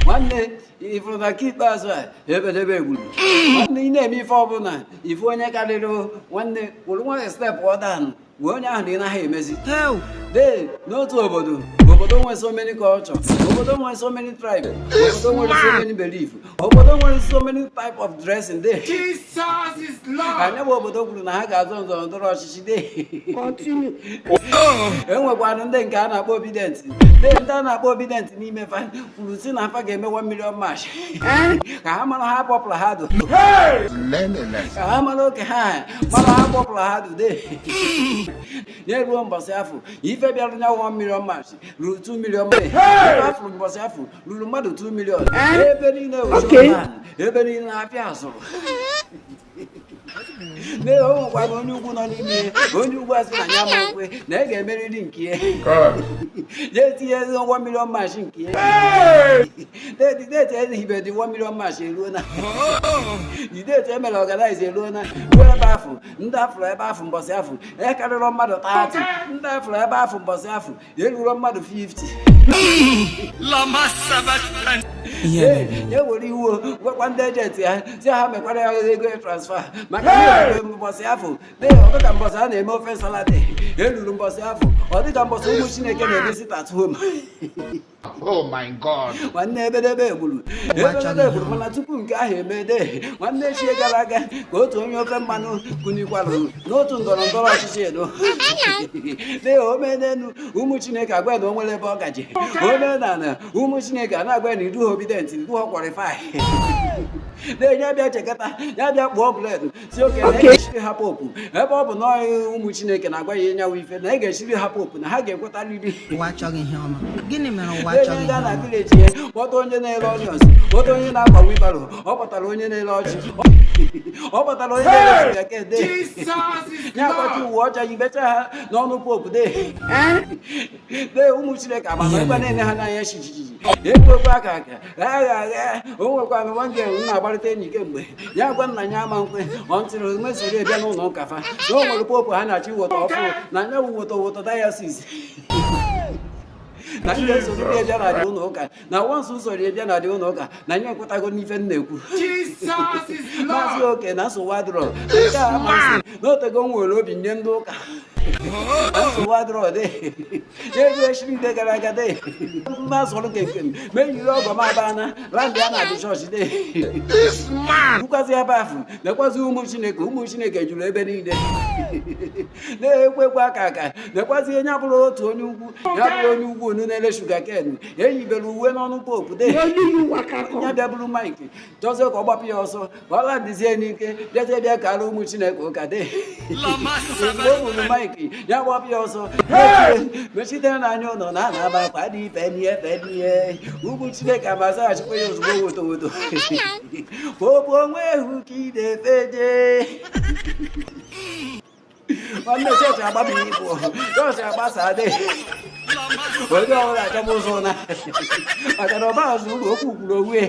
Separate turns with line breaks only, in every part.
nwanne ị fụrụ na nke ikpeazụ a ebedebe egburu nwanne ị na-eme ife ọbụla ife onye karịrị nwanne were nwayọ stepụọ down gwa onye ahụ na ị naghị emezi dee n'otu obodo obodo nwere so many culture obodo nwere so many tribe obodo nwere so many belief obodo nwere so many type of dressing
dey nya bụ obodo kwuru
na ha ga-azọ nzọrọ ndọrọ ọchịchị enwekwanụ ndị nke a na-akpọ obidient ndị ndị a na-akpọ obidient n'ime fa kwuru sị na fa ga-eme 1 million march ka ha mara how popular ha dụ
ka ha
mara oke ha mara how popular ha dụ de na-eruo mbọsị afụ ife bịara nya 1 million march ruru 2 million march ife a fụrụ mbọsị afụ ruru mmadụ 2 million ebe niile oche ebe niile na-apịa azụrụ lee o nwekwara onye ugwu nọ n'ime ihe onye ugwu asị na ya ama ekwe na ya ga-emerịrị nke ya ya etinyezie 1 million march nke ya date e ji hibe the 1 million march eruo na date e mere organize eruo na ruo ebe afụ ndị a fụrụ ebe afụ mbọsị afụ akarịrọ mmadụ 30 ndị a fụrụ ebe afụ mbọsị afụ erurọ
mmadụ
50 ewere iwe gwakwa ndị agent ya sị ha mekwara ya ego transfer maka mbọsị afụ ọ dịka mbọsị a na-eme ofe salad eruo mbọsị afụ ọ dịka mbọsị ụmụ chineke na-eme sit at home
oh my god nwanne
ebedebe egburu ebedebe egburu mana tupu nke ahụ emee de nwanne echi gara aga ka otu onye ofe mmanụ kunikwara n'otu ndọrọ ndọrọ ọchịchị elu lee o menelu ụmụ chineke agwa na o nwere ebe ọ gaje o menala ụmụ chineke a na-agwa na ị dụ obidient ị dụ ha qualify lee ya bịa chekata ya bịa kpụọ bụled sị okay na ya ga-echiri ha pope ebe ọ bụ na ụmụ chineke na-agwa ya ịnyanwụ ife na ị ga-echiri ha pope na ha ga-ekwetarịrị na
village
ya kpọta onye na-ere onions kpọta onye na-agba wheelbarrow ọ kpọtara onye na-ele ọjị ọ kpọtara onye na-ele ọjị ya kede ya akpọchi uwe ọcha yibecha ha n'ọnụ pope de de ụmụ chineke agbata ebe na-ene ha n'anya chichichichi ekwekwa aka aka agha agha o nwekwa amịwa nke m na-agbarịta enyi kemgbe ya gwa na ya ama ekwe until e mesoro ebịa n'ụlọ ụka fa na o nwere pope ha na-achọ iweta ọfụụ na nya woto woto diocese na ndị nsogbu ndị bịara the ụlọ ụka na once i sorie bịa na the ụlọ ụka na anyị ekwetago n'ife m na-ekwu m asị okay na nsogbu adịrọ nke a m asị na otego nwere pope nye ndị ụka nsogbu adịrọ dị n'ego echi ndị gara aga dị mma sọrọ ka ekem ma eyiri ọgọ m abana landịa na the church
de rukwazi ebe
afụ nekwazi ụmụ chineke ụmụ chineke juru ebe niile na-ekwekwa aka aka nekwazi onye abụrụ otu onye ugwu ya bụrụ onye ugwu nọ na-ele sugar cane eyibere uwe n'ọnụ Pope de ya bịa buru maịkị jọzie ka ọ gbapụ ya ọsọ ka ọ labizie n'ike bịazie bịa kara ụmụ chineke ụka de mgbe o buru maịkị ya gbapụ ya ọsọ mechite n'anya ụlọ na ana aba akwa dị ife n'ihe efe n'ihe ụmụ chineke amazaghachikwa ya ozugbo woto woto Pope onwe ehu ka ị na-efe jee nwanne chọọchị agbaba ibu chọọchị agbasa adịghị onye ọbụla achọba ụzọ ụna maka na ọba azụ ụlọ okwu kwuru onwe ya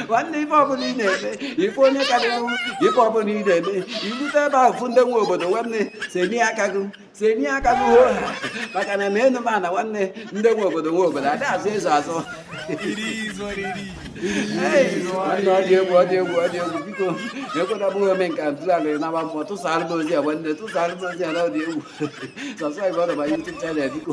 nwanne ife ọbụla ị na-eme ife onye karịrị ife ọbụla ị na-eme irute ebe ahụ fụ ndị nwe obodo nwanne senie aka gị senie aka n'uwe ha maka na na enu ma na nwanne ndị nwe obodo nwe obodo ada azọzi azọ nwanne ọ dị egwu ọ dị egwu ọ dị egwu biko na-ekweta bụghị ome nke ntụzalị na agba mbọ tụsara m ozi a nwanne tụsara m ozi a na ọ dị egwu subscribe na my YouTube channel biko